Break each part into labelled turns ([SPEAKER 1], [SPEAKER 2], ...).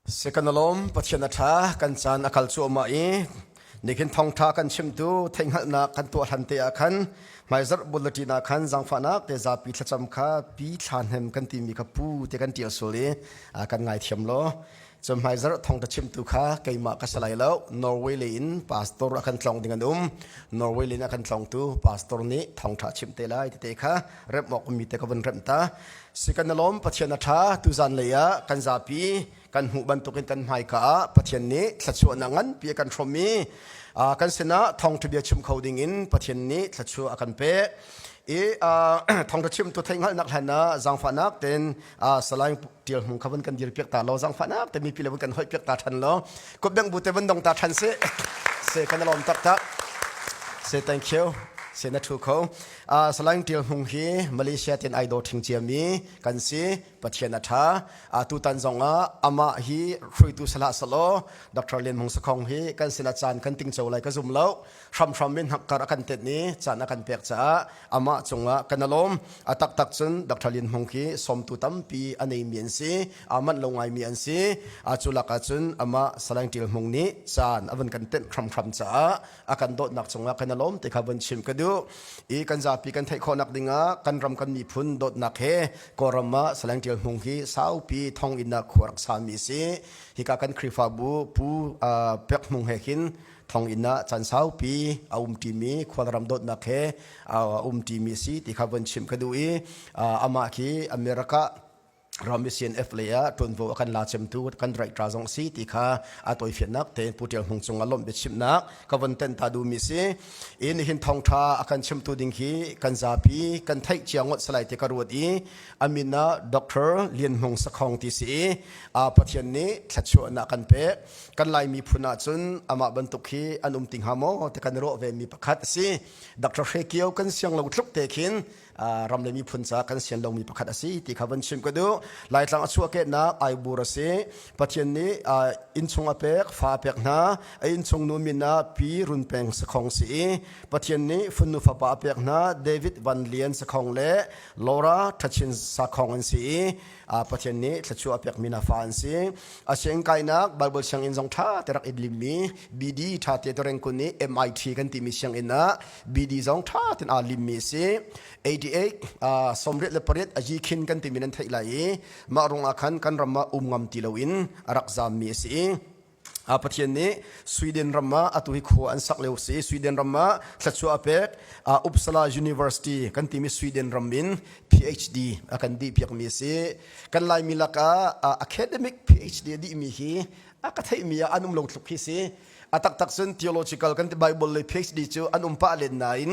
[SPEAKER 1] Si kan i lawm, Pathian a ṭha, kan caan a kal cuahmah i nihin thawngṭha kan chimtu theihhngalhnak kan tuah hlan te ah khan hmaizarh bulletin ah khan zaangfahnak te zapi thlacam kha pi thlahnem kan timi kha pu te kan ṭial sual i ah, kan ngaithiam law cun hmaizarh thawngṭha chimtu kha keimah ka si lai lo Norway lei in pastor ah kan tlawng ding an um Norway lei in a kan tlawngtu pastor nih thawngṭha chim te lai tete kha remh awk ummi te ka vun remh ta Si kan i lawm Pathian a ṭha. Tuzan lei ah kan zapi kan hmuh bantukin kan hmaika ah Pathian nih thluachuahnak nganpi a kan hrawm i kan sinah thawngṭhabia chim kho dingin Pathian nih thluachuah a kan pek. I thawngṭha chimtu theihhngalhnak hlan ah zaangfahnak tein salaing ṭial hmung kha vun kan dir piak ta law zaangfahnak te mipi le vun kan hoih piak ta ṭhan law kutbeng bu te vun dong ta ṭhan se se kan i lawm taktak. Say thank you. Say na thu kho. Salaing Ṭial Hmung hi Malaysia tin ai daw ṭhing ciami kan si. Pathian a ṭha. Tutan zongah amah hi hruitu salah salaw Dr. Lian Hmung Sakhong hi kan sinah caan kan tingco lai ka zum lo. Hramhram in hakkar a kan tet ni caan a kan pek caah amah cungah kan alawm. A taktak cun Dr. Lian Hmung hi sawmtu tampi a neimi an si. Amanh lo ngaimi an si. A culak ah cun amah Salaing Ṭial Hmung nih caan a vun kan tenh hramhram caah a kan dawtnak cungah kan alawm ti kha vun chim ka duh i kan zapi kan theih khawhnak dingah kan ram kan miphun dawtnak he kawlram ah saleng tial hmung hi saupi thong in a khuar sami si hika kan khrifabu pu pek hmung he khin thong in a chan saupi a um timi khualram dawtnak he a um timi si ti kha vun chim ka duh i amah khi america ram CNF le ah ṭuanvo a kan la cemtu kan right ra zong si ti kha a toifiannak te Pu Ṭial Hmung cung a lawmh biachimnak ka von ten ta duhmi si in hin thawngṭha a kan chimtu ding hi kan zapi kan theih cia ngot salai te ka ruat i amin ah Dr. Lian Hmung Sakhong ti si a Pathian nih thlatchuahnak kan pek kan lai miphun ah cun amah bantuk hi an um ti hnga maw te kan rawh ve mi pakhat si Dr. Hre Kio kan siang lo tluk te khin ram le miphun ca kan sian lomi pakhat asi ti kha van chim ka duh laitlang a chuahkehnak aibur asi pathian nih innchung a pek fa a pek hna a innchung nu min ah pi run peng sakhong si i pathian nih funnu fapa a pek hna david van lian sakhong le lora thachin sakhong an si i pathian nih thlachu a pek mi na fa an si a siang kainak bible sianginn zong tha terak ip limmi bd tha te toreng kun i mit kan timi sianginn ah BD zong ṭha tein aa limmi a si. 88 uh, sawmriat le pariat a yi khin kan timi nan theih lai i mah ruang ah khan kan ram ah um ngam ti loin a rak zammi a si. a pathian nih sweden ram ah atu hi khua an sak leu si sweden ram ah thlatsuah a pek uppsala university kan timi sweden ram in phd a kan di piakmi a si kan laimi lakah academic phd a dihmi hi a ka theihmi ah an um lo tluk hi si A taktak cun theological kan ti Bible le PhD cu an um pah len nain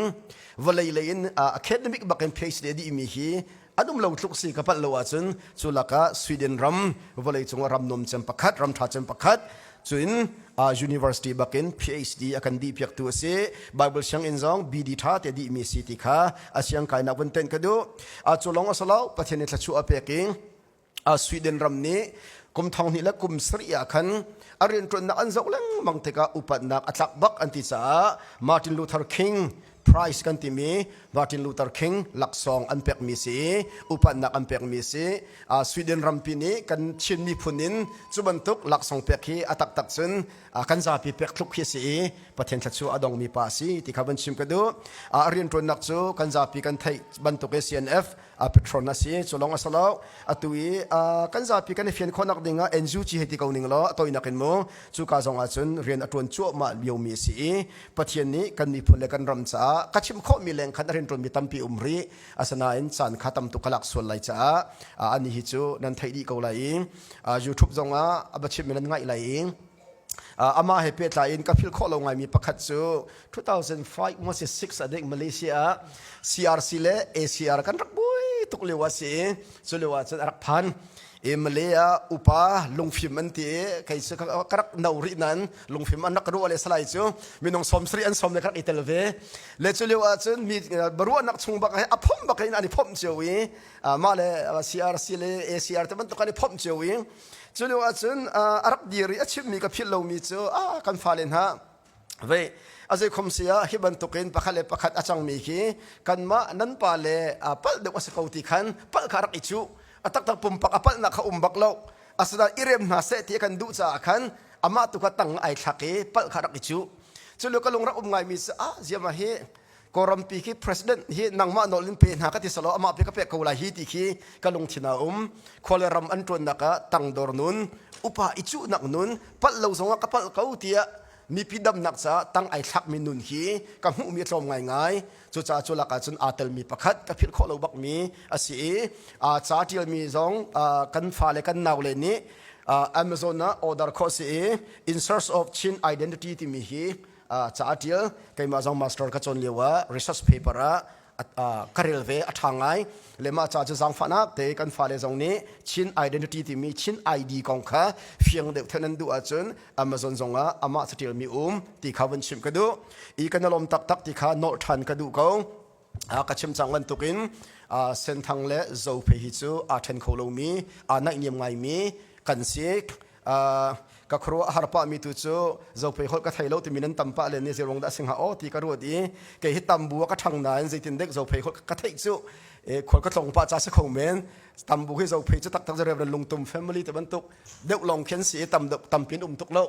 [SPEAKER 1] vawlei lei in academic bak in PhD a dihmi hi an um lo tluk si ka palh lo ahcun cu lakah Sweden ram vawlei cungah ram nuam cem pakhat ram ṭha cem pakhat cun university bakin PhD a kan dihpiaktu a si Bible sianginn zong BD ṭha te dihmi si ti kha a siang kainak van ten ka duh a cu lawng a si lo Pathian i thlachuah a pek i Sweden ram nih kum thong hnih le kum sarih ah khan a rianṭuannak an zoh lengmang tikah upatnak a tlak bak an ti caah Martin Luther King prize kan timi Martin Luther King laksawng an pekmi si i upatnak an pekmi si Sweden rampi nih kan Chin miphun in cu bantuk laksawng pek hi a taktak cun kan zapi pek thluk khi si i Pathian thla chu a dongmi pa si ti kha van chim ka duh a rianṭuannak cu kan zapi kan theih bantuk i CNF petrol na si cu lawng a si lo atu i kan zapi kan i fian khawh nak ding ah NU ci hei ti ko ning law a toinak in mu cu ka zong ah cun rian a tuan cuahmah liomi si i Pathian nih kan miphun le kan ram caah ka chim khawhmi leng khan a rian tuanmi tampi um rih asinain caan kha tam tuk ka lak sual lai caah ani hi cu nan theih dih ko lai i YouTube zong ah a bachim nan ngaih lai i amah he pehtlai in ka philh khawh lo ngaimi pakhat cu 2005 umas 6 a dek Malaysia ah CRC le ACR kan rak buai tuk lio a si cu lio ah cun a rak phan e malaya upa lungfim an ti kai su ka rak no ri nan lungfim an rak ru le salai chu minung som sri an som le ka rak itel ve le chu leo a chun mi baru nak chung bak he a phom bak in ani phom chiu i ma le CRC le ACR te ban to kan phom chiu i cu lio ahcun a rak dir i a chimhmi ka philh lomi cu a kan fale hna vei a zei khom se ah hi bantukin pakhat le pakhat a cangmi khi kanmah nan pa le palh deuh a si ko ti khan palh kha rak i cuh a taktak pumpak a palhnak kha um bak lo asinain i rem hna seh ti kan duh caah khan amah tu kha tang ai thlak i palh kha rak i cuh cu lio ka lungrak um ngaimi cu a ziama hi Kawlrampi khi president hi nangmah nawl in pe hna ka ti solo amah pe ka pek ko lai hi ti khi ka lungthin a um. Khua le ram an tuannak ah tangdor nun, upa i cuhnak nun, palh lo zongah ka palh ko tiah mipi damnak caah tang ai thlakmi nun hi ka hmuhmi a tlawm ngaingai. Cucaah cu lakah cun aa telmi pakhat ka philh khawh lo bakmi a si i aa ca ṭialmi zong ah kan fale kan naule nih ah Amazon ah order khawh si i In Search of Chin Identity timi hi ca a ṭial keimah zong master ka cawn lio ah research paper ah ka rel ve a ṭha ngai le mah ca cu zaangfahnak te kan fale zong nih Chin identity timi Chin ID kong kha fiang deuh thenh an duh ahcun Amazon zong ah amah caṭialmi um ti kha vun chimh ka duh i ka na lawm taktak ti kha nawlh ṭhan ka duh ko ka chim cang bantuk in senthang le zo phe hi cu aa ṭhen kho lomi aa naihniam ngaimi kan si ka khuaruah har pah mi tu cu zopei holh ka thei lo timi nan tam pah le nih zeirong dah singa aw ti ka ruat i kei hi tam bu ka ṭhang nain zeitin dek zopei holh ka theih cu khual ka tlong pah ca si kho men tam bu hi zopei cu taktak zarep ran lungtum family te bantuk deuh long khen si i tam deuh tampin um tuk lo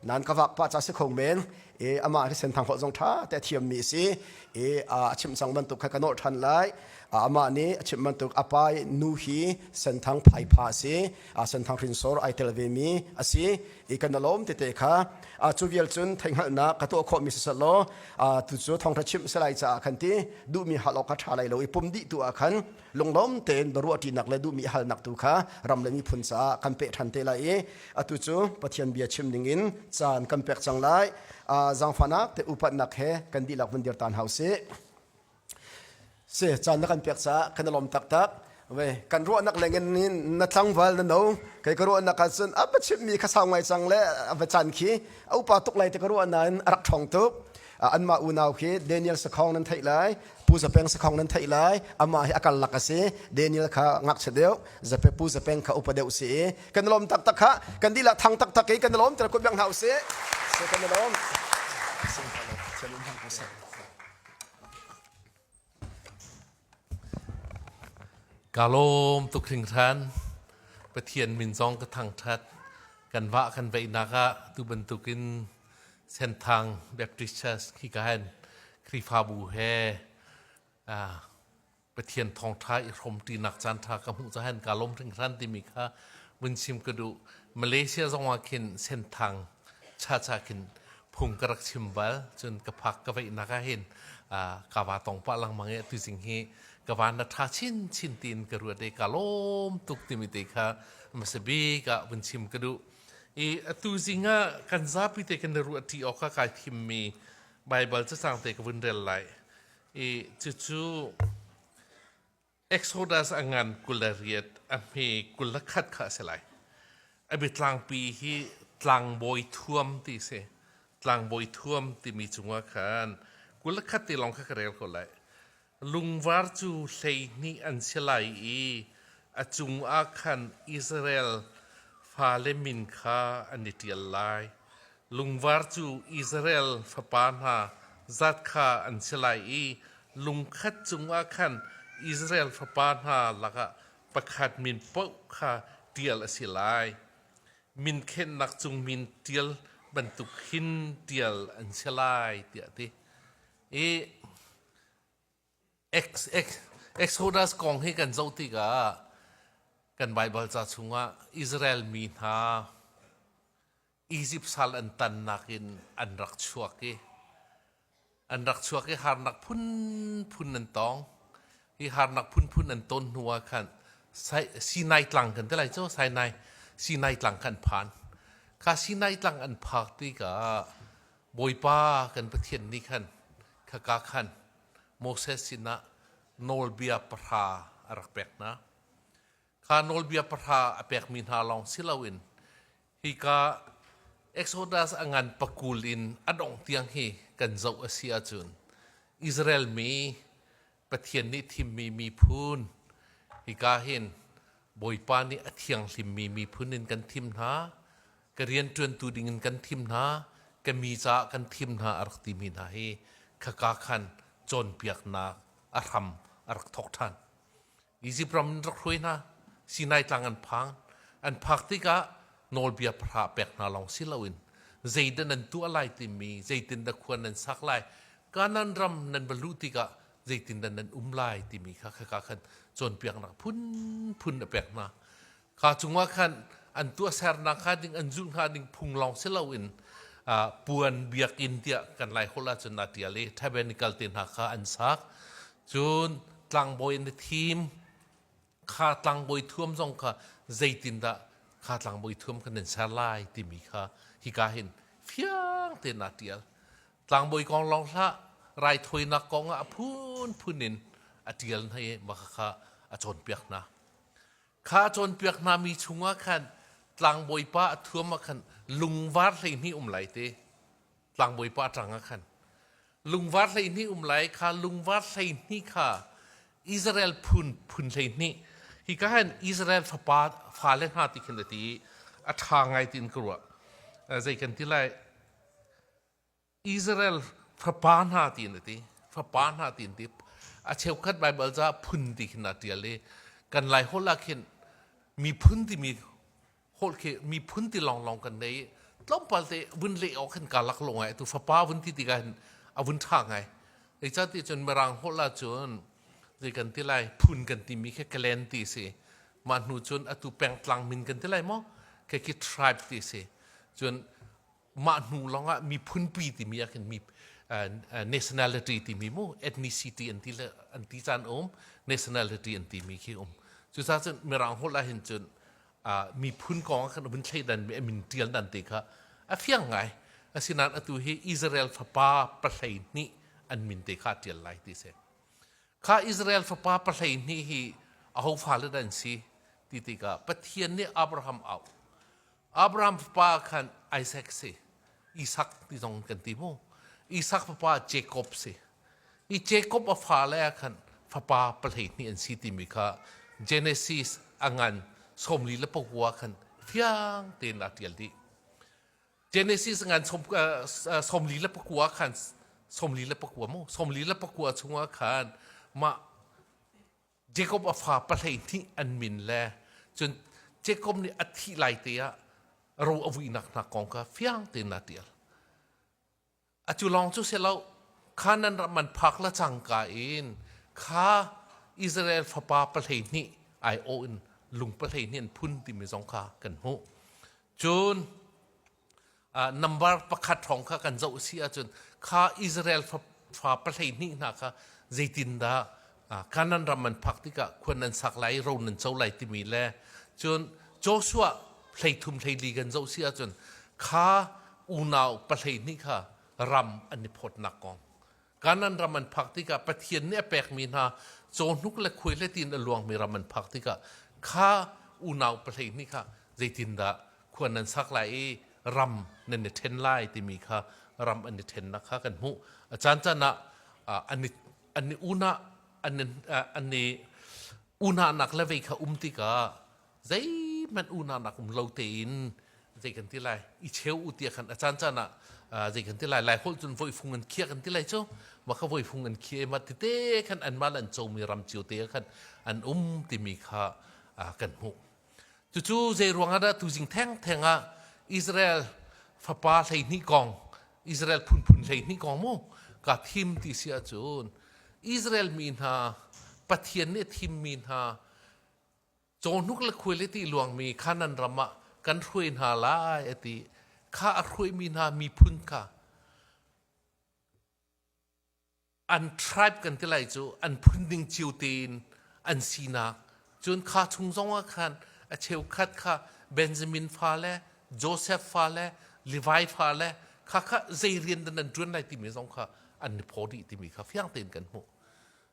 [SPEAKER 1] nan ka vak pah ca si kho men i amah thisen thang khawh zong ṭha te a thiammi a si i a chimh cang bantuk kha ka nawh ṭhan lai amah nih a chimh bantuk a pai nu hi senthang phaipha a si a senthang hrinsor ai tel vemi a si i kan lawm tete kha cu vial cun theihhngalhnak ka tuah khawhmi sisal law tu cu thawngṭha chimh salai caah khan ti duhmi hal awk a ṭha lai lo i pum dih tu ah khan lunglawm tein ruahṭinak le duhmi halnak tu kha ram le miphun caah kan peh ṭhan te lai i atu cu Pathian bia chim dingin caan kan pek cang lai zaangfahnak te upatnak he kan dihlak vun dir tan hau sih si caan na kan pek caah kan i lawm taktak ve kan ruahnak lengin na tlangval na no kei ka ruahnak ahcun a va chimmi kha sau ngai cang le a va caan khi a upa tuk lai te ka ruahna in a rak ṭhong tuk Anmah unau khi Daniel sakhong nan theih lai, Pu Zapeng sakhong nan theih lai, amah hi a karlak a si. Daniel kha ngakchia deuh, zape Pu Zapeng kha upa deuh si i kan lawm taktak kha kan dilah thang taktak i kan lawm tiah kuat biang hna u sih. Kan lawm. Ka lawm tuk hringhran. Pathian min zong ka thangṭhat. Kan vah kan veihnak ah tu bantukin Senthang Baptist Church hi ka hen Khrihfabu he ah Pathian thawngṭha i hrawmṭinak caanṭha ka hmuh cahan ka lawm hringhran timi kha vun chim ka duh. Malaysia zongah khin Senthang chacha khin phung ka rak chim bal cun ka phak ka veihnak ah hin ka va tong pah lengmang i tu jing hi ka van na tha chin chin tiin ka ruat i ka lawm tuk timi te kha masabi ka vun chim ka duh i atu jing ah kan zapi te kan ruat ti awk ka kai thim mi bible cacang te ka vun rel lai i cucu Exodus a ngan kul le riat a hme kul le khat kha a si lai. A biatlangpi hi tlangbawi thuam ti si. Tlangbawi thuam timi cungah khan kul le khat te lawng kha ka rel ko lai. Lungvar cu hlei hnih an si lai i a cungah khan Israel fale min kha an i ṭial lai. Lungvar cu Israel fapa hna zat kha an si lai i lungkhat cungah khan Israel fapa hna lakah pakhat min paoh kha ṭial a si lai. Min khenhnak cung min ṭial bantuk hin ṭial an si lai, tiah a ti. I Exodus kong hi kan zoh tikah kan Baibal ca chungah Israel mi hna Izipt sal an tannak in an rak chuak i an rak chuak i harnak phunphun an tong. Hi harnak phunphun an ton hnu ah khan Sinai tlang kan ti lai cu Sinai Sinai tlang khan phan. Kha Sinai tlang an phak tikah Bawipa kan Pathian nih khan khaka khan Moses sinah nawlbia pahra a rak pek hna. Kha nawlbia pahra a pekmi hna lawng si loin hika Exodus a ngan pakul in a dongh tiang hi kan zoh a si ahcun Israel mi Pathian nih thimmi miphun, hika hin Bawipa nih a thianghlimmi miphun in kan thim hna, ka rianṭuantu ding in kan thim hna, ka mi caah kan thim hna a rak timi hna hi khaka khan cawnpiaknak a hram a rak thawk ṭhan. Izipt ram in rak hruai hna. Sinai tlang an phang. An phak tikah nawlbia pahra pek hna lawng si loin zeidah nan tuah lai timi, zeitindah khua nan sak lai, Kanaan ram nan va luh tikah zeitindah nan um lai timi kha khaka khan cawnpiaknak phunphun a pek hna. kha cungah khan an tuahsernak hnga ding an zulh hnga ding phung lawng si loin puan biakinn tiah kan lai holh ahcun aa ṭial i tabernakal te hna kha an sak cun tlangbawi in a thim kha tlangbawi thuam zong kha zeitindah kha tlangbawi thuam kan in ser lai timi kha hika hin fiang tein aa ṭial tlangbawi kong lawng hlah raithawinak kong ah a phunphun in a ṭial hna i maka kha a cawnpiak hna Kha cawnpiak hna mi chungah khan tlangbawipa a thuam ah khan lungvar hleihnih um lai te tlangbawipa ṭangah khan lungvar hleihnih um lai kha lungvar hleihnih kha Israel phun phun hleihnih hi ka khan Israel fapa fale hna ti khin a ti i a ṭha ngai tiin ka ruah zei kan ti lai Israel fapa hna tiin a ti fapa hna tiin ti a cheukhat Baibal ca phun ti khin a ṭial i kan lai holh ah khin miphun timi holh khi miphun ti lawnglawng kan nei i tlawmpal te vun leh awk hin kaa lak lo ngai tu fapa vun ti tikah hin a vun ṭha ngai ei ca ti cun mirang holh ah cun zei kan ti lai phun kan timi khi clan ti si mah hnu cun atu pengtlang min kan ti lai maw khi khi tribe ti si cun mah hnu lawngah miphunpi timi ah khin mi nationality timi mu ethnicity an ti le an ti caan um nationality an timi khi um cucaah cun mirang holh ah hin cun miphun kong ah khan vun thleidan mi amin tial dan te kha a fiang ngai asinain atu hi Israel fapa pahlei hnih an min te kha tial lai ti se kha Israel fapa pahlei hnih hi aho fale da an si ti tikah Pathian nih Abraham au Abraham fapa khan Isaac si. Isak ti zong kan ti mu. Isak fapa Jacob si. I Jacob a fale ah khan fapa pahleihnih an si timi kha Genesis a ngan sawmli le pakua khan fiang tein a ṭial dih. Genesis ngan som, uh, sawmli le pakua khan sawmli le pakua mu sawmli le pakua chungah khan mah Jacob a fa pahleihnih an min le cun Jacob nih a thih lai te ah ro a vuinak hna kong kha fiang tein a tial. A cu lawng cu si lo, Kanaan ram an phak la cangka in kha Israel fapa pahleihnih aiawh in lung pahleihnih an phun timi zong kha kan hmuh. Cun nambar pakhat hrawng kha kan zoh si ahcun kha Israel fa pahleihnih hna kha zeitindah Kanan ram an phak tikah khuan nan sak lai ro nan co lai timi le cun Joshua hleithum hleili kan zoh si ahcun kha unau pahleihnih kha ram an i phawtnak kong Kanan ram an phak tikah Pathian nih a pekmi hna cawhnuk le khuai le tiin a luangmi ram an phak tikah kha unau pahlei nih kha zeitindah khuan nan sak lai i ram nan i ṭhen lai timi kha ram an i ṭhennak kha kan hmuh. A caancaan ah an i, an i unah an, an i unahnak le vei kha um tikah zeihmanh unaunak um lo tein zei kan ti lai i cheu u tia khan a caan caan ah zei kan ti lai lai holh cun voifung an khia kan ti lai cu ma kha voifung an khia ma tete khan an mal an comi ram cio te khan an um timi kha kan hmuh cucu zei ruangah dah tuzing theng theng ah Israel fapa hleihnih kong Israel phunphun hleihnih kong mu ka thim ti si ahcun Israel mi hna Pathian nih thimmi hna Cawhnuk le khual i tih luangmi Kanaan ram ah kan hruai hna lai a ti. Kha a hruaimi hna miphun kha an tribe kan ti lai cu an phun ding cio tein an sinak cun kha chung zongah khan a cheukhat kha Benjamin fale Joseph fale Levi fale kha kha zei rian dan an ṭuan lai timi zong kha an i phaw dih timi kha fiang tein kan hmuh.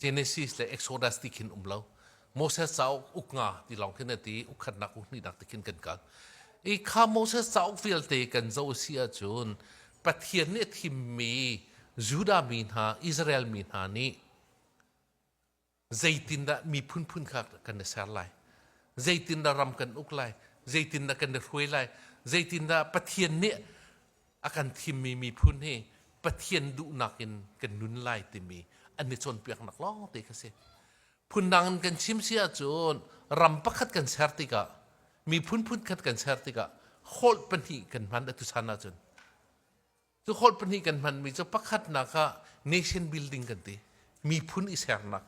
[SPEAKER 1] Genesis le Exodus ti khin um lo. Moses cauk uk nga ti lawng khin a ti i ukhatnak uhnihnak ti khin kan kal. I kha Moses cauk vialte kan zoh a si ahcun Pathian nih a thimmi Judah mi hna, Israel mi hna nih zeitindah miphun phun kha kan i ser lai? Zeitindah ram kan uk lai? Zeitindah kan i hruai lai? Zeitindah Pathian nih a kan thimmi miphun hi Pathian duhnak in kan nun lai timi an i cawnpiaknak lawngte kha si. Phundang in kan chim si ahcun ram pakhat kan ser tikah, miphun phunkhat kan ser tikah holh pahnih kan hman a tuchan ahcun. Cu holh pahnih kan hmanmi cu pakhatnak ah nation building kan ti, miphun i sernak.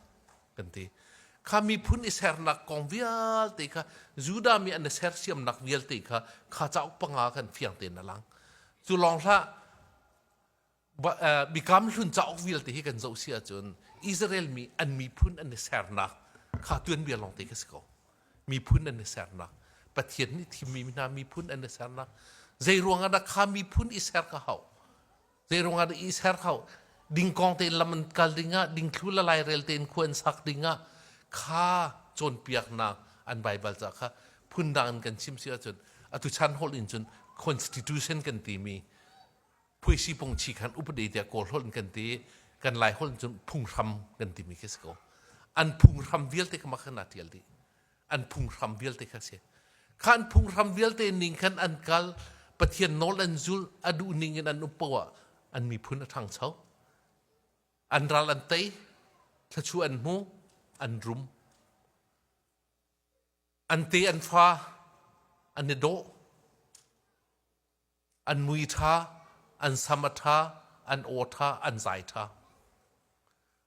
[SPEAKER 1] kan ti kha miphun i sernak kong vialte kha Judah mi an i sersiamnak vialte kha kha cauk panga khan fiang tein a lang cu lawng hlah bikam hlun cauk vialte hi kan zoh si ahcun Israel mi an miphun an i sernak kha tuanbia lawngte ka si ko miphun an i sernak Pathian nih thimmi hna miphun an i sernak zei ruangah dah kha miphun i ser ka hau Zeiruang ah i ser hau. Ding kong tein lam an kal ding ah, dingthlu le lairel tein khua an sak ding ah, kha cawnpiaknak an Baibal ca kha phundang in kan chim si ahcun, atu chan holh in cun constitution kan timi, phuisi pungchi khan upade tiah kawl holh in kan ti, kan lai holh in cun phunghram kan timi khi si ko. An phunghram vialte kama khan aa tial dih. an phunghram vialte kha si khan phunghram vialte ning khan an kal pathian nawl an zulh a duh ning in an upo ah an miphun a ṭhangcho an ral an tei thlachu an hmu an rum an te an fa an i dawh an mui ṭha, an sam a ṭha, an aw ṭha, an zai ṭha.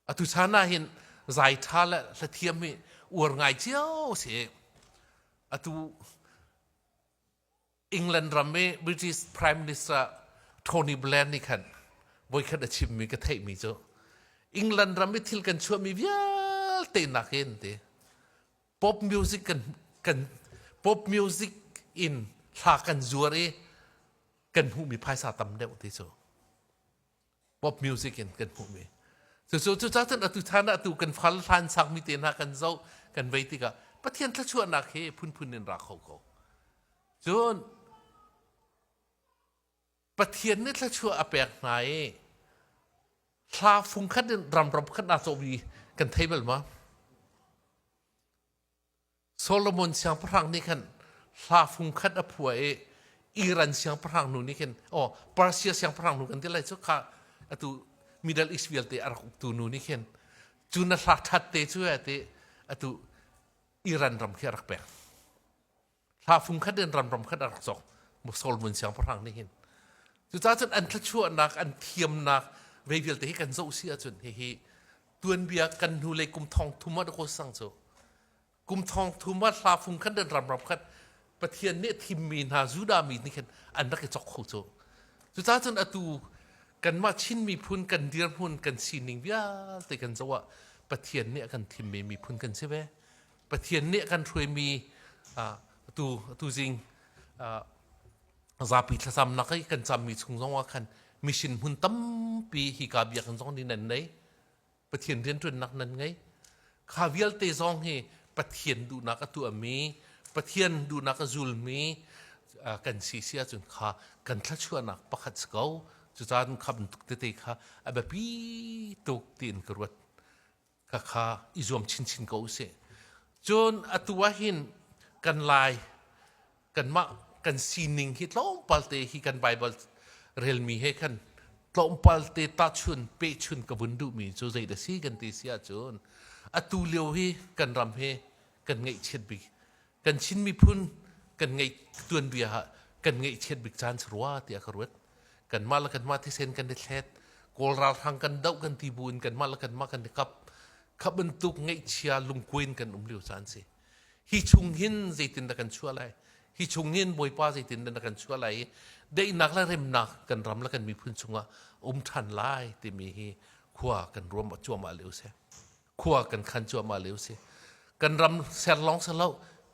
[SPEAKER 1] Atu chan ah hin zai ṭha le hlathiam hi uar ngai cio si. Atu England ram i British Prime Minister Tony Blair nih khan voikhat a chimmi ka theihmi cu England ram i thil kan chuahmi vialte nakin ti pop music kan kan pop music in thla kan zuar i kan hmuhmi phaisa tam deuh ti cu pop music in kan hmuhmi cucu cuca cun atu chan ah atu kan fal hlan sangmi te hna kan zoh kan vei tikah pathian thluachuahnak hi phunphun in ra kho ko cun Pathian nih thluachuah a pek hna i hla fung khat in ramram khat na cawh vi kan thei bal ma? Solomon siangpahrang nih khan hla fung khat a phua i Iran siangpahrang nu nih khin oh Persia siangpahrang nu kan ti lai cu kha atu Middle East vialte a rak uktu nu nih khin cu na hla ṭhat te cu ti atu Iran ram khi a rak pek. thlafung khat in ramram khat a rak cawk musol vun siang parang nih hin cuca cun an thlachuahnak an thiamnak ve vialte hi kan zoh si ahcun hihi tuanbia kan hnu le kum thong thum ah ko sang cu kum thong thum ah thlafung khat in ramram khat pathian nih thimmi hna juda mi nih khin an rak i chok kho cu cuca cun atu kanmah chin miphun kan dirhmun kan sining vialte kan zoh ah pathian nih a kan thimmi miphun kan si ve Pathian nih kan hruaimi tu tuzing zapi thlacam nak i kan cammi chung zongah khan mission hmun tampi hi ka biakinn zong nih nan nei Pathian rianṭuannak nan ngei kha vialte zong hi Pathian duhnak a tuahmi Pathian duhnak a zulmi kan si si ahcun kha kan thluachuahnak pakhat si ko cucaan kha bantuk tete kha a biapi tuk tiin ka ruat khakha i zuam chinchin ko usih cun atu ah hin kan lai kanmah kan sining hi tlawmpal te hi kan bible relmi he khan tlawmpal te tahchun pehchun ka vun duhmi cu zei da si kan ti si ahcun atu lio hi kan ram he kan ngaihchiat bik kan Chin miphun kan ngeih tuanbia ha kan ngeihchiat bik caan si rua tiah ka ruat kanmah le kanmah thisen kan i thlet kawl ralhrang kan doh kan ti bu in kanmah le kanmah kan i kap kha bantuk ngeihchia lungkuai in kan um lio caan si hi chung hin zeitin dah kan chuah lai hi chung hin bawipa zeitin dah kan chuah lai i daihnak le remnak kan ram le kan miphun chungah um ṭhan lai timi hi khua kan ruam a cuahmah lio seh khua kan khan cuahmah lio si kan ram ser lawng ser lo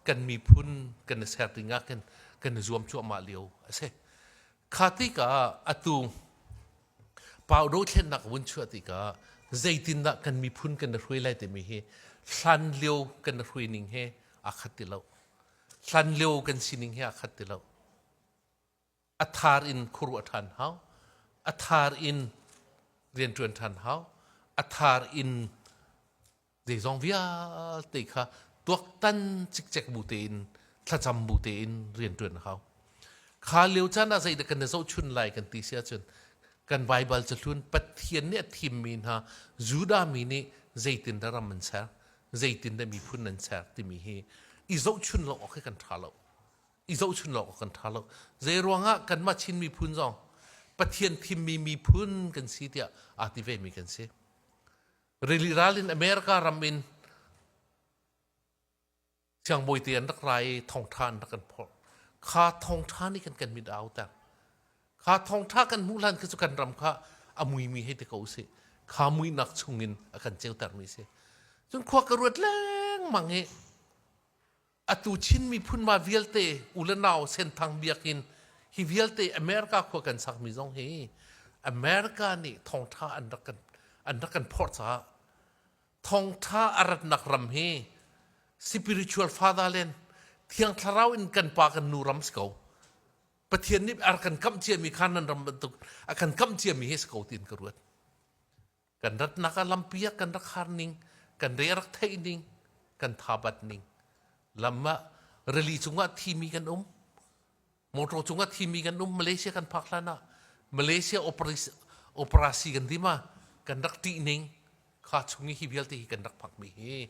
[SPEAKER 1] kan miphun kan i ser ding ah kan kan i zuam cuahmah lio a si kha tika atu pau do thlen nak vun chuah tika zeitin dah kan miphun kan i hrui lai timi hi hlan lio kan i hrui ning he a khat ti lo hlan lio kan sining hi a khat ti lo a thar in khuaruah ṭhan hau, a thar in rianṭuan ṭhan hau, a thar in zeizong vialte kha tuaktan cikcek bu tein thlacam bu tein rianṭuan hau. Kha lio caan ah zeidah kan i zohchun lai kan ti si ahcun kan Baibal cu hlun Pathian nih a thimmi hna Judah mi nih zeitindah ram an ser, zeitindah miphun an ser timi hi i zohchun lo awk hi kan ṭha lo. i zohchunh awk kan ṭha lo. Zeiruangah kanmah Chin miphun zong Pathian thimmi miphun kan si tiah aa ti vemi kan si. Rili ral in America ram in siangbawite an rak ra i thawngṭha an rak kan phorh. Kha thawngṭha nih kan kan mit a auter. Kha thawngṭha kan hmuh hlan khi cu kan ram kha a muimi hei ti ko usih. Kha muihnak chung in a kan ceutermi si. Cun khua ka ruat lengmang i atu Chin miphun ma vialte u le nau Senthang biakin hi vialte America khua kan sakmi zong hi America nih thawngtha an rak kan an rak kan phorh caah thawngtha a ratnak ram hi spiritual fatherland thiang thlarau in kan pa kan nu ram si ko Pathian nih a kan kamh ciami kha nan ram bantuk a kan kamh ciami hi si ko tiin ka ruat kan ratnak ah lampi ah kan rak harning kan re rak theihning kan thabatning lam ah rili cungah thimi kan um motor cungah thimi kan um malaysia kan phak hlan ah malaysia operasi, operasi kan dima kan rak ṭihning kha chung i hi vialte hi kan rak phakmi hi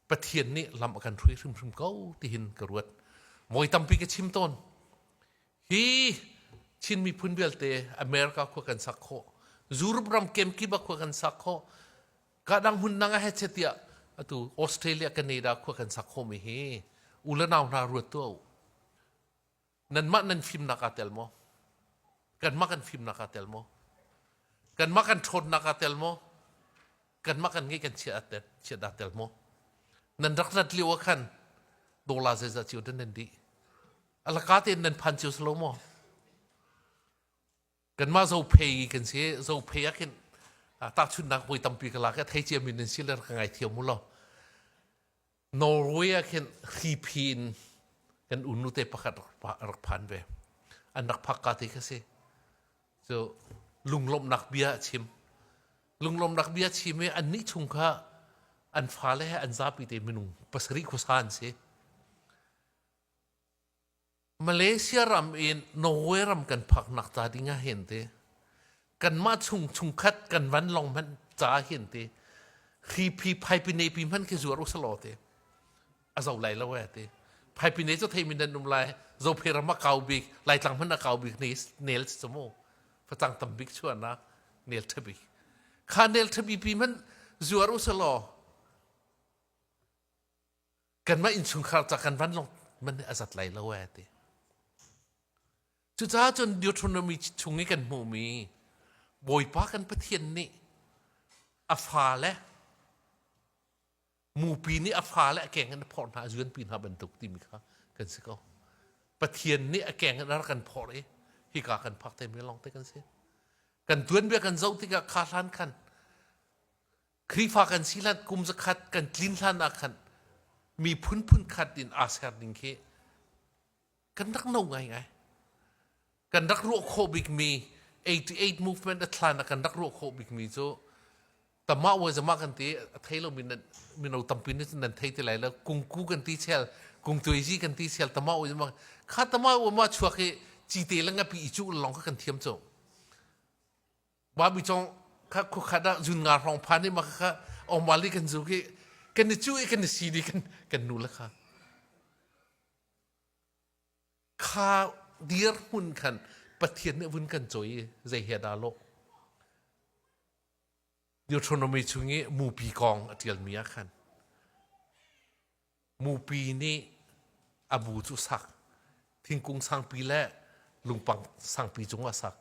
[SPEAKER 1] pathian nih lam a kan hrui hrimhrim ko tihin ka ruat mawi tampi ka chim tawn hi Chin miphun vialte America khua kan sak khawh Europe ram kemkip ah khua kan sak khawh kadang hmun dang ah he chetiah atu Australia Canada khua kan sak khawhmi hi u le nau hna ruat tuah u nanmah nan fimnak aa tel maw kanmah kan fimnak aa tel maw kanmah kan ṭhawnnak aa tel maw kanmah kan ngeih kan chiat aa tel chiat aa tel maw nan rak rat lio ah khan dolar zeizah cio dan nan dih alaka tein nan phan cio salo maw kanmah zo phei kan si zo phei ah khin takchunnak voi tampi ka lak i thei cia min nan si le ka ngai thiam mu lo norway ah khin hripi in kan unu te pakhat rak phan ve an rak phak ka te ka si so lunglomnak bia chim lunglomnak bia chim i an nih chung kha an fa le he an zapi te minung pasari khuasa an si Malaysia ram in Norway ram kan phaknak ca ding ah hin ti kanmah chung chungkhat kan vanlawng hmanh ca hin ti hi phi phaipine pi hmanh khi zuar usalaw ti a zo lai lo e ti phaipine cu thei min nan um lai zophei ram a kau bik laitlang hmanh a kau bik nel si cu mu facang tam bik chua na nel ṭha bik kha nel ṭha bi pi hmanh zuar usalaw kanmah innchungkhar ca kan vanlawng man nih a zat lai lo e ti cucaah cun Deuteronomy chung i kan hmuhmi Bawipa kan Pathian nih a fale mupi nih a fale a keng in a phorh hna a zuanpi hna bantuk timi kha kan si ko Pathian nih a keng in a rak kan phorh i hika kan phak te mi lawngte kan si kan tuanbia kan zoh tikah kha hlan khan Khrihfa kan si hlan kum zakhat kan tlin hlan ah khan miphun khat in aa ser ning khi kan rak no ngaingai. Kan rak ruah khawh bikmi 88 movement a thlan ah kan rak ruah khawh bikmi cu tamah wa zama kan ti a thei lo min mino tampi nih nan thei ti lai lo kungku kan ti chel kungtuizi kan ti chel tamah wa zama kha tamah wa ma chuak hi chi te langa pi i cu long kan thiam cho mami chong kha khuakhat ah zun nga hrawng phan i ma kha ong wali kan zu ki kan ni chu i kan ni si di kan kan nu la kha kha dir hun khan pathian ne vun kan choi zei he da lo Deuteronomy chung i mupi kong a tial mi ah khan Mupi nih a bu cu sak. Thingkung sangpi le lungpang sangpi cung a sak.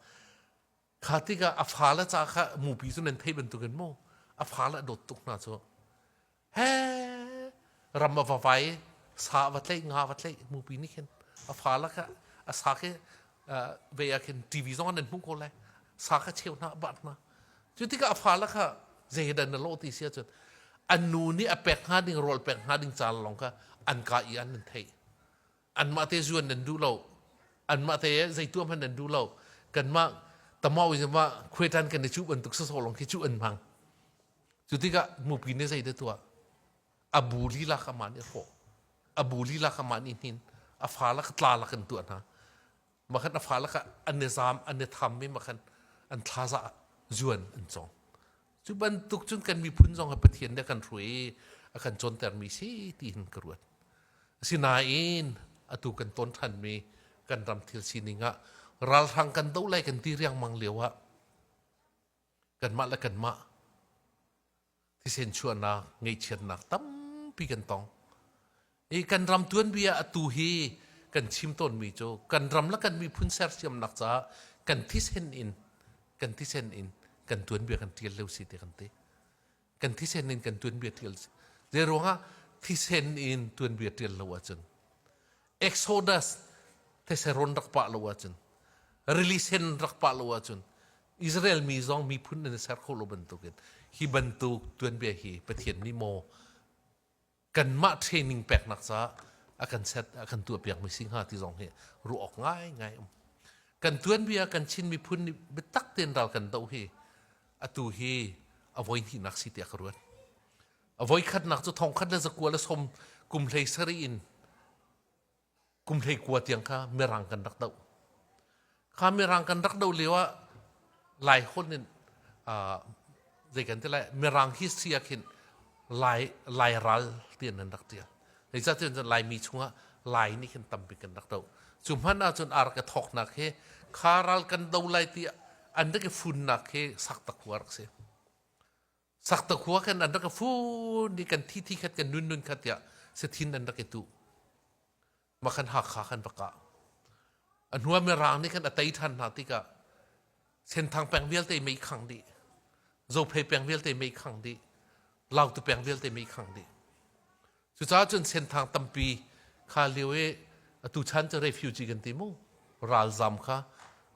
[SPEAKER 1] Kha tikah a fale ca kha mupi cu nan theih bantukin mu a fale a dawt tuk hna cu. He ram a va vai, sa a va tlaih, nga a va tlaih mupi nih khin a fale kha a sak i ve ah khin TV zong an hmuh ko lai sa kha cheu hna bat hna cu tikah fala kha zeidan na lo ti si ahcun an nu nih a pek hnga ding rawl pek hnga ding caan lawng kha an ka i an nan theih anmah te zuan nan duh lo anmah te zeituam han nan duh lo kanmah tamau izama khuetan kan i cu bantuk soso long khi cu an mang cu tikah mupi ne zei de tuah a bu lila kha man i hrawh a bu lila kha man i hnin a fa lak tla lak in tuah hna makhan a fa lak an ne zam an ne tham me makhan an thlaza zuan an chong cu bantuk cun kan miphun zong ha pathian ne kan hrui a kan conter mi si ti hin ka ruat asinain atu kan ton than mi kan ram thil sining ah ralhrang kan do lai kan ti riang mang lio ah kan mah le kan mah thisen chuahnak ngeihchiatnak tampi kan tong i kan ram tuanbia ah atu hi kan chim tawnmi cu kan ram le kan miphun sersiamnak caah kan thisen in kan thisen in kan tuanbia kan ṭial leo si ti kan ti kan thisen in kan tuanbia ṭial si zei ruangah thisen in tuanbia ṭial lo ahcun Exodus theseron rak pah lo ahcun rilisen rak pah lo ahcun Israel mi zong miphun nan i ser khawh lo bantukin hi bantuk tuanbia hi Pathian nih maw kanmah training peknak caah a kan set a kan tuah piakmi si hnga ti zong hi ruah awk ngaingai um. Kan tuanbia kan Chin miphun nih biatak tein ral kan do hi atu hi a voi hnihnak si tiah ka ruat. A voikhatnak cu thongkhat le zakua le som kum hlei sarih in kum hlei kua tiang kha mirang kan rak doh. Kha mirang kan rak doh lio ah lai hon in uh, zei kan ti lai mirang history ah khin lai lai ral ti nan rak tia. Hei sa tiin laimi chungah lai nih khin tambik kan rak do. Cu hman ahcun ar ka thoknak he kha ral kan do lai ti an rak i funnak he sak tak rak si. saktakhua kan an rak i fun i kan thi thi khat kan nun nun khat tiah sathin an rak i tu makhan hakha kan rak kah a hnuah mirang nih kan a tei ṭhan hna tikah senthang peng vialte mei khang dih zophei peng vialte mei khang dih lautu peng vialte mei khang dih Cucaah cun Senthang tampi kha lio i atu chan cu refugee kan ti mu ralzam kha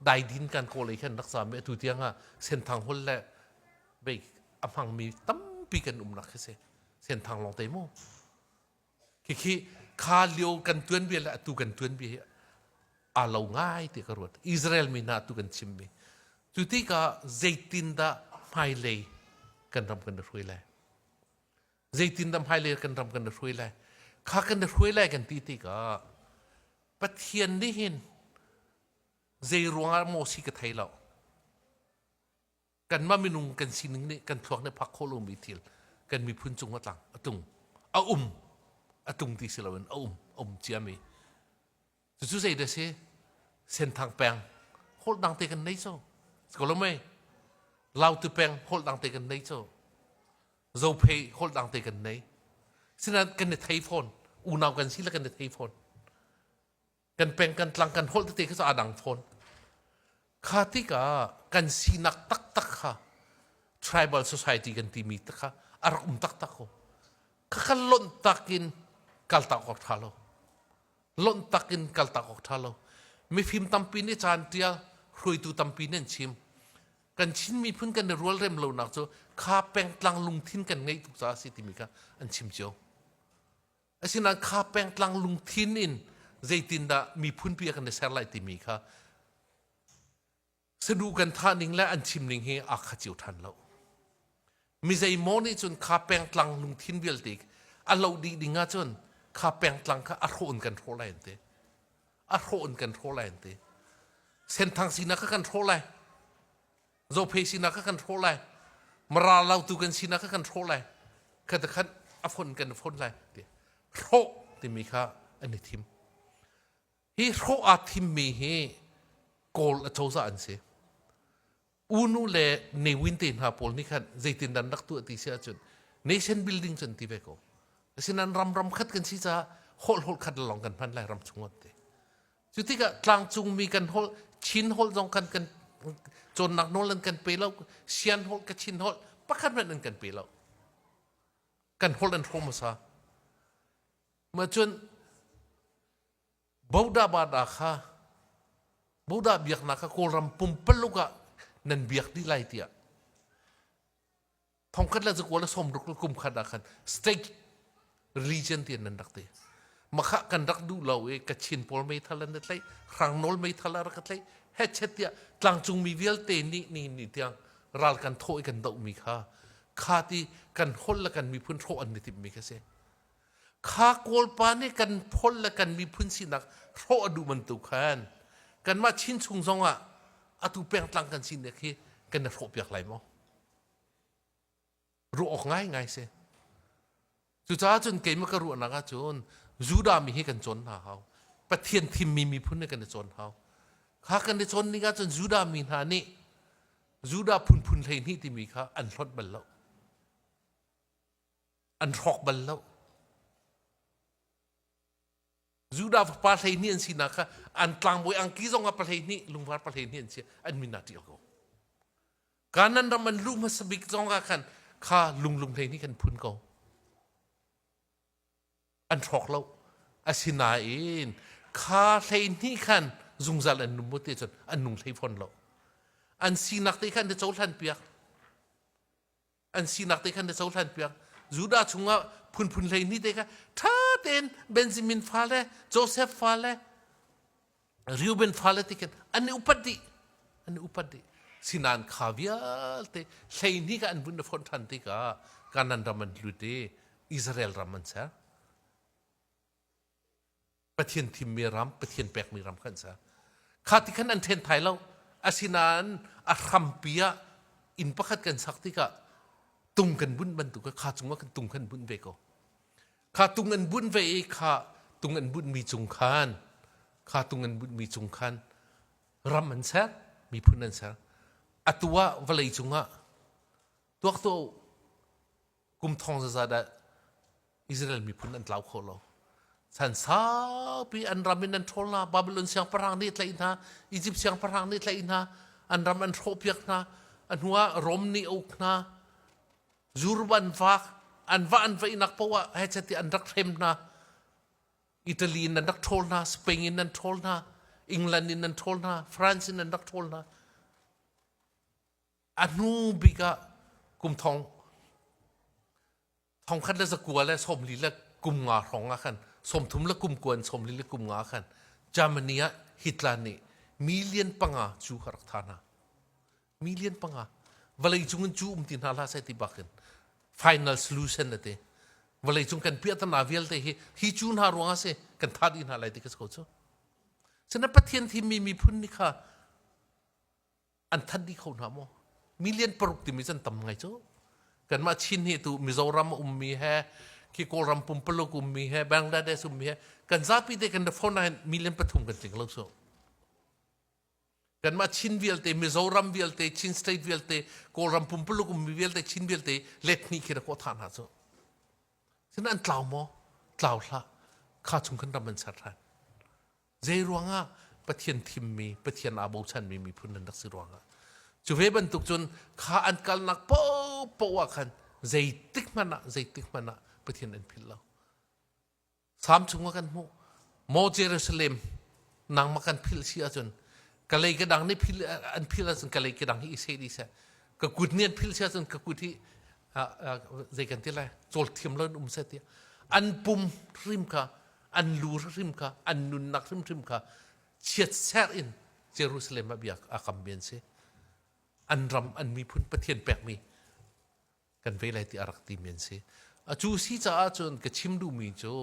[SPEAKER 1] daidin kan kawl i khan rak zam i atu tiang ah Senthang hol le bei a hmangmi tampi kan umnak khi si Senthang lawng te mu khikhi kha lio kan tuanbia le atu kan tuanbia hi aa lo ngai ti ka ruat Israel mi hna atu kan chimmi cu tikah zeitindah hmailei kan ram kan i hruai lai zeitindah hmailei kan ram kan i hruai lai kha kan i hruai lai kan ti tikah Pathian nih hin zei ruangah maw si ka thei lo kanmah minung kan sining nih kan thluak nih phak khawh lomi thil kan miphun cung a tlang a tung a um a tung ti si loin a um a um ciami Cucu zei deh si? Senthang peng holh dang te kan nei co. Ko lo mei? Lautu peng holh dang te kan nei co. Zophei holh dang te kan nei. Sinain kan i thei fawn. Unau kan si le kan i thei fawn. Kan peng kan tlang kan holh tete kha cu aa dang fawn. Kha tikah kan sinak taktak kha tribal society kan timi te kha a rak um taktak ko. Khakha lonh tak in kaltak awk ṭha lo. Lonh tak in kaltak awk ṭha lo. Mifim tampi nih caan ṭial, hruaitu tampi nih an chim. Kan Chin miphun kan i rualrem lonak cu kha pengtlang lungthin kan ngeih tuk caah a si timi kha an chim cio. Asinain kha pengtlang lungthin in zeitindah miphunpi a kan i ser lai timi kha sadu kan thah ning le an chim ning hi aa kha cio ṭhan lo. Mizeimaw nih cun kha pengtlang lungthin vialte a lo dih ding ahcun kha pengtlang kha a hrawh in kan hrawh lai an ti. A hrawh in kan hrawh lai an ti. Senthang sinak kha kan hrawh lai. zophei sinak kha kan hrawh lai mara lautu kan sinak kha kan hrawh lai khata khan a fon kan fon lai ti hrawh timi kha an i thim hi hrawh aa thimmi hi kawl a cozah an si unu le ne winte hna pawl nih khan zeitin dan rak tuah ti si ahcun nation building cun ti ve ko asinain ram ram khat kan si caah holh holh khat lawng kan hman lai ram chung ti Cu tikah tlangcungmi kan holh, Chin holh zong kan, kan cawnnak nawl an kan pe lo, Sian holh, Kachin holh, pakhat hmanh an kan pe lo. Kan holh an hrawh hmasa. Ma cun Buddha bada kha Buddha biaknak kha Kawlram pumpaluk ah nan biak dih lai tiah thongkhat le zakual le somruk le kum khat ah khan state region ti nan rak ti makha kan rak duh lo i kachin pawl meithal an tlai hrang nawl meithal a rak tlai hetchet tiah tlangcungmi vialte nih ni ni tiang ral kan thaw i kan dohmi kha kha ti kan hol le kan miphun hrawh an ni timmi kha si kha kawlpa nih kan phol le kan miphun sinak hrawh a duh bantuk khan kanmah chin chung zong ah atu pengtlang kan sinak hi kan i hrawh piak lai maw ruah awk ngaingai si. Cucaah cun keimah ka ruahnak ah cun Judah mi hi kan cawn hna hau. Pathian thimmi miphun nih kan i cawn hau. Kha kan i cawn ning ahcun Judah mi hna nih Judah phunphun hleihnih timi kha an hlonh bal lo. An hrawk bal lo. Judah fapa hleihnih an sinak kha an tlangbawi angki zongah pa hleihnih lungvar pa hleihnih an si an min ah ṭih ko kanan ram an lu hmasa bik zongah khan kha lunglung hleihnih kan phun ko an hrawk lo asinain kha hleihnih khan zungzal an num te cun an nung hlei fawn lo an sinak te khan te cohlan piak an sinak te khan na cohlan piak judah chungah phunphun hleihnih te kha ṭha tein benjamin fale joseph fale reuben fale te khan an i upat dih an i upat dih sinan kha vialte hleihnih ka an bunh na fonh ṭhan tikah kanan ram an lut i israel ram an ser Pathian thimmi ram, Pathian pekmi ram kha an ser. Kha ti khan an ṭhen thai lo. Asinain a hrampi ah inn pakhat kan sak tikah tung kan bunh bantuk kha cungah kan tung kan bunh ve ko. Kha tung an bunh ve i kha tung an bunhmi cung khan kha tung an bunhmi cung khan ram an ser, miphun an ser. Atu ah vawlei cungah tuak tuah u. kum thong zaza dah Israel miphun an tlau kho lo chan saupi an ram in an ṭhawl hna Babylon siangpahrang nih tlaih hna Egypt siangpahrang nih tlaih hna an ram an hrawhpiak hna a hnu ah Rome nih uk hna Jurub an vak an va an vaihnak poah hechet i an rak hrem hna Italy in an rak ṭhawl hna Spain in an ṭhawl hna England in an ṭhawl hna France in an rak ṭhawl hna a hnu bik ah kum thong thong khat le zakua le sawmli le kum nga hrawng ah khan sawmthum le kum kuan sawmli le kum nga ah khan Germany ah Hitler nih million panga cu ka rak tha hna million panga vawlei cung in cu um ti hna hlah sai ti bak in final solution ate vawlei cung kan piah tana vialte hi hi cu hna ruang ah se kan tha di hna lai ti ka so cu sina pathian thimmi miphun ni kha an thanh dih kho hna maw million paruk timi can tam ngai cu kanmah chin hi tu mizoram ummi he khi kawlram pumpaluk ummi he bangladesh ummi he kan zapi te kan phone nain million pathum kan tling lo so kanmah chin vialte mizoram vialte chin state vialte kawlram pumpaluk ummi vialte chin vialte let hni khi ra ko tha hna cu sin an tlau maw tlau hla kha chung kan ram an ser ran Zei ruangah Pathian thimmi, Pathian aa bochanmi miphun nan rak si ruangah. Cu ve bantuk cun kha an kalnak popoh ah khan zeitik hmanh ah, zeitik hmanh ah Pathian an philh lo. Salm chungah kan hmuh. Mo Jerusalem nangmah kan philh si ahcun kalei ka dang nih phil an phil ahcun kalei ka dang hi i se dih seh ka kut nih an phil si ahcun ka kut hi zei kan ti lai cawlthiam lo in um seh ti an pum hrim kha an lu hrimhrim kha an nunnak hrimhrim kha chiatserh in Jerusalem ah bia a kammi an si an ram an miphun pathian pekmi kan vei lai ti a rak timi an si a cu si caah cun ka chim duhmi cu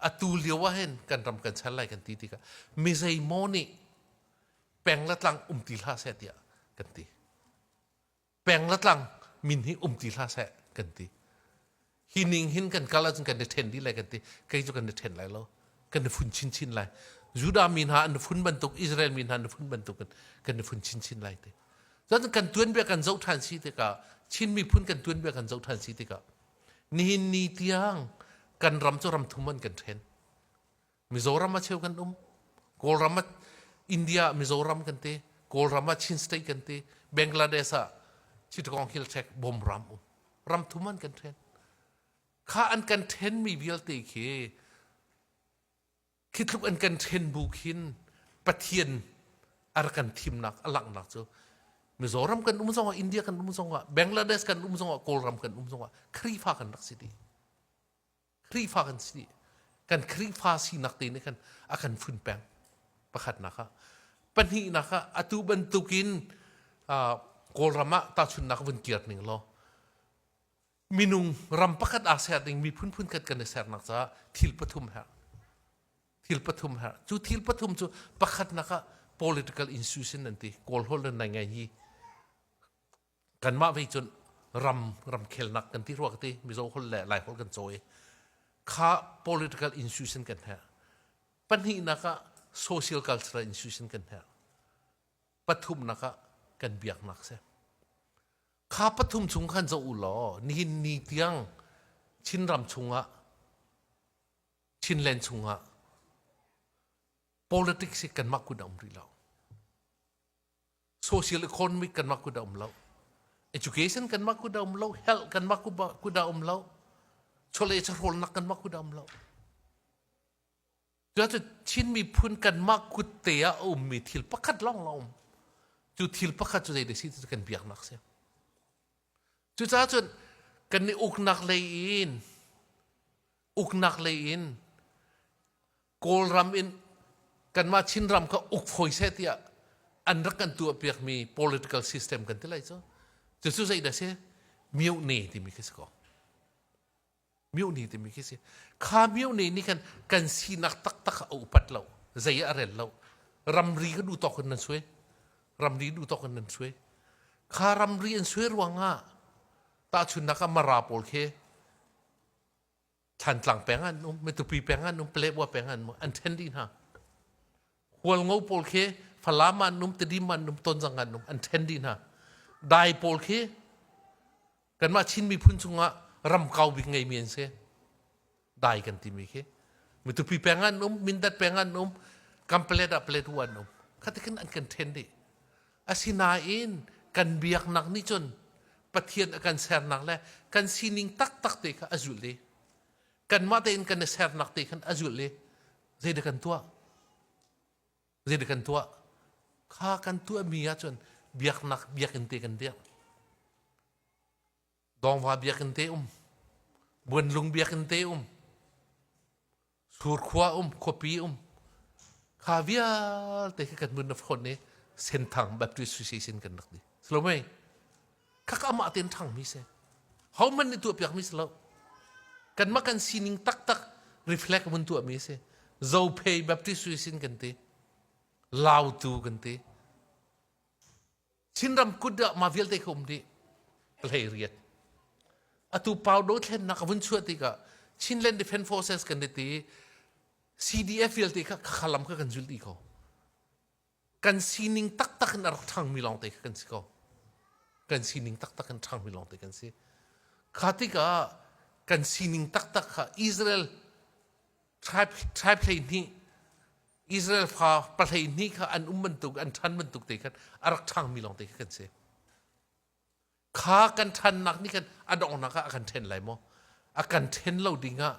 [SPEAKER 1] atu lio ah hin kan ram kan chan lai kan ti tikah mizeimaw nih peng le tlang um ti hlah seh tiah kan ti peng le tlang min hi um ti hlah seh kan ti hi ning hin kan kal ahcun kan i ṭhen dih lai kan ti kei cu kan i ṭhen lai lo kan i fun chinchin lai judah mi hna an fun bantuk israel mi hna an fun bantuk in kan i fun chinchin lai ti cun kan tuanbia kan zoh ṭhan si tikah chin miphun kan tuanbia kan zoh ṭhan si tikah nihin ni tiang kan ram cu ram thum an kan ṭhen Mizoram ah cheu kan um. Kawlram ah India ah Mizoram kan ti. Kawlram ah Chin State kan ti. Bangladesh ah Chittagong Hill Check bom ram um. Ram thum an kan then. Kha an kan then mi vialte khi khi tluk an kan then bu khin Pathian ar kan thimnak alangnak cu Mizoram kan um zongah India kan um zongah Bangladesh kan um zongah Kawlram kan um zongah Khrifa kan rak si ti. Khrihfa kan si kan Khrihfa sinak te nih khan a kan fun peng pakhatnak ah pahnihnak ah atu bantukin kawlram ah tahchunnak vun kir ning law minung ram pakhat aa ser ding miphun phunkhat kan i sernak caah thil pathum her thil pathum her cu thil pathum cu pakhatnak ah political institution an ti kawlholh le nai ngai hi kanmah vei cun ram ramkhelnak kan ti rua ka ti mizo holh le lai holh kan cawi kha political institution kan he pahnihnak ah social cultural institution kan he pathumnak ah kan biaknak se kha pathum chung khan zo u law nihin ni tiang chinram chungah chinland chungah politics hi kanmah kun a um rih lo social economic kan mah ku da um lo education kan mah ku da um lo health kan mah ku ku da um lo chole charol nak kan mah ku da um lo tu Chin miphun kan mah ku te a um mi thil pakhat long long um cu thil pakhat cu zei de si tu kan biak nak se cu ca cun kan ni uk nak lei in uk nak lei in Kawlram in kanmah Chinram kha uk fawi seh tiah an rak kan tuah piakmi political system kan ti lai cu. Cucu zei dah si? Myohne timi khi si ko. Myohne timi khi si. Kha myohne nih khan kan sinak taktak a upat lo. Zei ah a rel lo. Ramri ka duh tawk in nan sui. Ramri duh tawk in nan sui. Kha ramri an sui ruangah tahchunnak ah mara pawl khi Thantlang peng an um, Matupi peng an um, Paletwa peng an um, an ṭhen dih hna. Hualngo pawl khi Falam an um, Tedim an um, Tonzang an um, an ṭhen dih hna. Dai pawl khi kanmah Chin miphun chungah ramkau bik ngeimi an si. Dai kan timi khi. Matupi peng an um, Mindat peng an um, Kampalet ah Paletwa an um. Khatikin an kan ṭhen dih. Asinain kan biaknak nih cun Pathian a kan sernak le kan sining taktak te kha a zulh i kanmah tein kan i sernak te khan a zulh i zeidah kan tuah? Zeidah kan tuah? Kha kan tuahmi ahcun biaknak biakinn te kan biak. Dawngva biakinn te um, Buanlung biakinn te um, Surkhua um, khuapi um, kha vialte khi kan nun na phone ni Senthang Baptist Association kan rak di. Slomei, khak amah ten ṭhangmi se, homan nih tuahpiakmi si lo. Kanmah kan sining taktak reflect mun tuahmi si. Zopei Baptist Association kan ti, Lautu kan ti, Chinram kut ah mah vialte ka um dih hleiriat. Atu pau dothlennak a vun chuah tikah Chinland Defense Forces kan diti CDF vialte kha khalam kha kan zul ti ko. Kan sining taktak in a rak ṭhangmi lawng te kan si ko. Kan sining taktak in ṭhangmi lawng te kan si. Kha tikah kan sining taktak kha Israel tribe, tribe hlei nih Israel fa pahleihnih kha an um bantuk an ṭhan bantuk te khan a rak ṭhangmi lawng te khi kan si. Kha kan ṭhannak nih khan a donghnak ah a kan ṭhen lai maw? A kan ṭhen lo dingah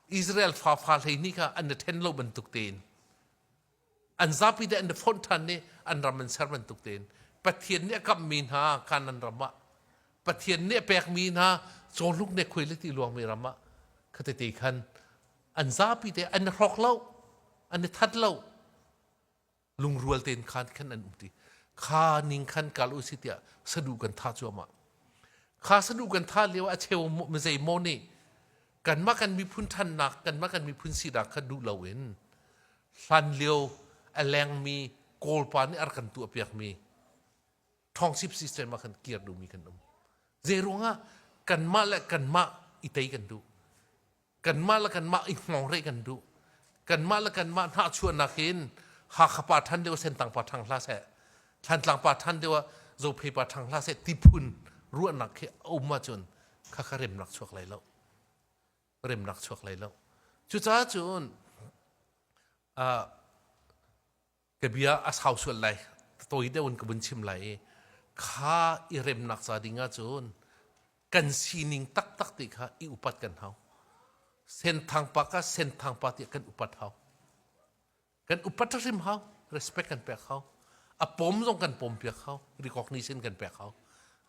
[SPEAKER 1] Israel fa fa hleihnih kha an i ṭhen lo bantuk tein an zapi te an i fonh ṭhan i an ram an ser bantuk tein Pathian nih a kamhmi hna kanan ram ah Pathian nih a pekmi hna cawluk ne khuai le ti luangmi ram ah khatete khan an zapi te an i hrok lo an i that lo lungrual tein khan khan an um ti kha ning khan kal u si tiah sadu kan tha cuahmah kha sadu kan tha lio a cheu mizei mo nih kanmah kan miphun thannak kanmah kan miphun sinak kha duh lo in hlan lio a lengmi kawlpa nih ar kan tuah piakmi thongchip system ah kan kir duhmi kan um zei ruangah kanmah le kanmah i tei kan duh kanmah le kanmah i hngongreh kan duh kanmah le kanmah hnahchuahnak in Hakha pa ṭhan deuh Sentang pa ṭhang hlah seh Thlantlang pa ṭhan deuh ah Zophei pa ṭhang hlah seh tiphun ruahnak khi a um ahcun khakha remnak chuak lai lo remnak chuak lai lo cucaah cun ka bia a sau sual lai tawi deuh in ka vun chim lai i kha i remnak ca ding ah cun kan sining taktak ti kha i upat kan hau senthang pa ka senthang pa ti kan upat hau kan upat hrim hau respect kan pek hau a pom zong kan pom piak hau recognition kan pek hau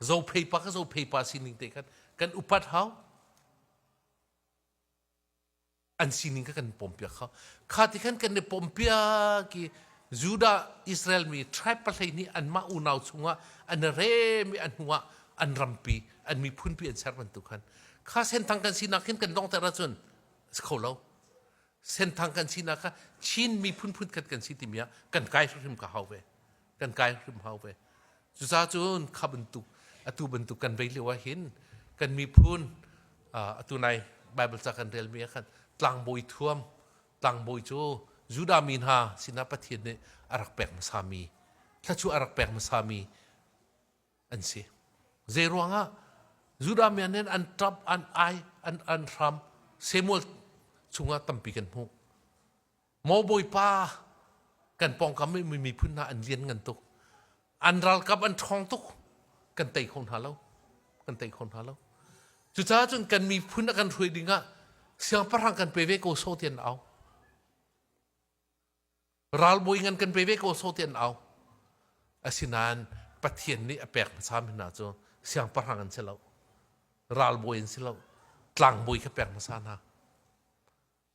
[SPEAKER 1] zo phei pa ka zo phei pa sining te khan kan upat hau an sining kha kan pompiak kha kha ti khan kan i pompiak i Judah Israel mi tribe pahlei nih anmah unau chungah an rem i an hnuah an rampi an miphunpi an ser bantuk khan kha senthang kan sinak hin kan dongter ahcun si kho lo senthang kan sinak kha Chin miphun phun khat kan si timi ah kan kai hrimhrim ka hau ve kan kai hrim hau ve cucaah cun kha bantuk atu bantuk kan vei lio ah hin kan miphun atu nai bible ca kan relmi ah khan tlangbawi thuam tlangbawi cu judah mi hna sinah pathian nih a rak pek hmasami thlachu a rak pek hmasami an si zei ruangah judah mi nih an ṭap an ai an an hram samuel chungah tampi kan hmuh Maw Bawipa, kan pawngkam i miphun hna an lian ngan tuk. An ralkap an ṭhawng tuk. Kan tei kho hna lo. Kan tei kho hna lo. Cucaah cun kan miphun a kan hruai ding ah siangpahrang kan pe ve ko so tian au. Ralbawi ngan kan pe ve ko so tian au. Asinain Pathian nih a pek hmasami hna cu siangpahrang an si lo. Ralbawi an si lo. Tlangbawi kha pek hmasa hna.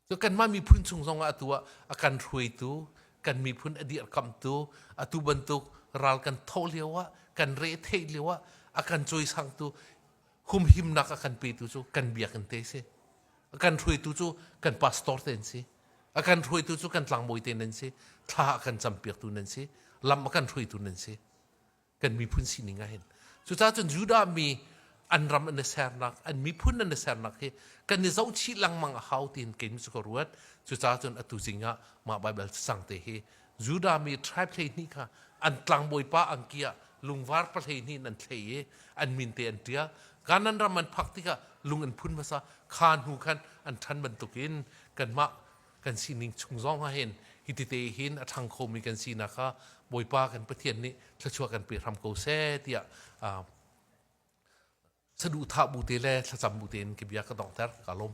[SPEAKER 1] Cu kanmah miphun chung zong ah atu ah a kan hruaitu, kan miphun a dirkamhtu, atu bantuk ral kan thoh lio ah, kan retheih lio ah a kan cawisangtu humhimnak a kan petu cu kan biakinn te si. A kan hruaitu cu kan pastor te an si. A kan hruaitu cu kan tlangbawi te nan si. Thla a kan campiaktu nan si. Lam a kan hruaitu nan si. kan miphun sining ahhin cucaah cun Judah mi an ram an i sernak an miphun an i sernak hi kan i zohchih lengmang a hau tiin kei cu ka ruat cucaah cun atu zing ah mah Baibal cacang te hi Judah mi tribe hleihnih kha an tlangbawipa angki ah lungvar pahleihnih in an thlei i an min te an ṭial Kanan ram an phak tikah lung an phun hmasa kha hnu khan an ṭhan bantukin kanmah kan sining chung zong ah hin hitite hin a ṭhang khomi kan sinak kha Bawipa kan Pathian nih thluachuah kan pe hram ko seh tiah saduhthah bu te le thlacam bu tein ka bia ka donghter ka lawm.